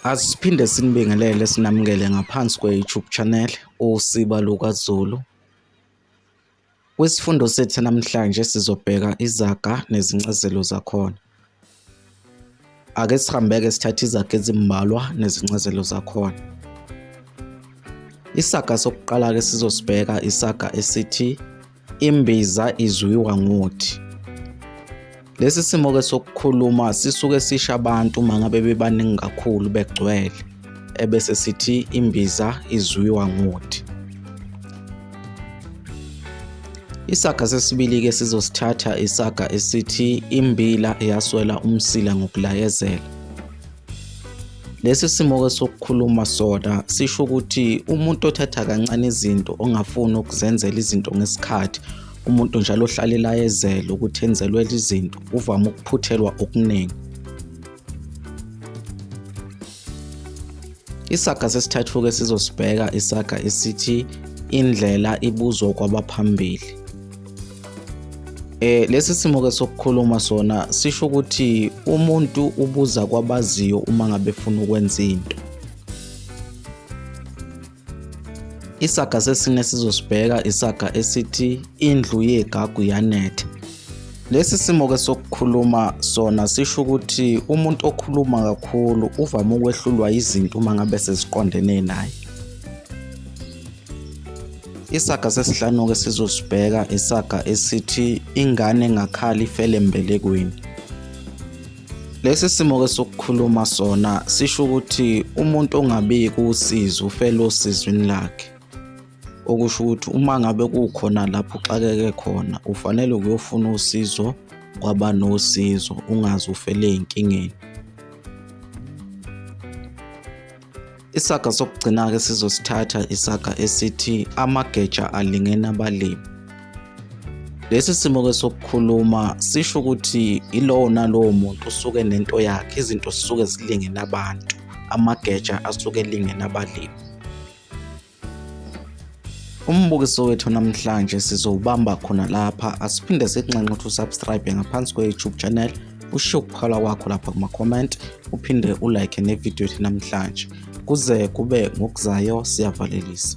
Asiphinde sinibingelele sinamukele ngaphansi kwe-YouTube channel uSiba LukaZulu. Kwisifundo sethu namhlanje sizobheka izaga nezincazelo zakhona. Ake sihambeke sithathe izaga ezimbalwa nezincazelo zakhona. Isaga sokuqala-ke sizosibheka isaga esithi Imbiza izwiwa ngothi. Lesi simo ke sokukhuluma sisuke sisha abantu uma ngabe bebaningi kakhulu begcwele ebese sithi imbiza izwiwa ngothi. Isaga sesibili ke sizosithatha isaga esithi imbila eyaswela umsila ngokulayezela. Lesi simo-ke sokukhuluma sona sisho ukuthi umuntu othatha kancane izinto ongafuni ukuzenzela izinto ngesikhathi umuntu njalo ohlalela ezele ukuthi enzelwe izinto uvame ukuphuthelwa okuningi isaga sesithathu-ke sizosibheka isaga esithi indlela ibuzwa kwabaphambili Eh lesi simo ke sokukhuluma sona sisho ukuthi umuntu ubuza kwabaziyo uma ngabe efuna ukwenza into. Isaga sesine sizosibheka isaga esithi indlu yegagu yanetha. Lesi simo ke sokukhuluma sona sisho ukuthi umuntu okhuluma kakhulu uvame ukwehlulwa izinto uma ngabe seziqondene naye. Isaga sesihlanu-ke sizosibheka isaga esithi ingane ngakhali ifele embelekweni. Lesi simo-ke sokukhuluma sona sisho ukuthi umuntu ongabiki usizi ufele osizwini lakhe. Okusho ukuthi uma ngabe kukhona lapho uxakeke khona ufanele ukuyofuna usizo kwaba nosizo ungaze ufele ey'nkingeni. Isaga sokugcina-ke sizosithatha isaga esithi amageja alingena abalimi. Lesi simo-ke sokukhuluma sisho ukuthi ilowo nalowo muntu usuke nento yakhe, izinto zisuke zilingene abantu, amageja asuke elingene abalimi. Umbukiso wethu namhlanje sizowubamba khona lapha asiphinde sikunxenxe ukuthi usubscribe ngaphansi kwe-YouTube channel ushiye ukukhala kwakho lapha kuma-comment uphinde ulike nevidiyo yethu namhlanje kuze kube ngokuzayo siyavalelisa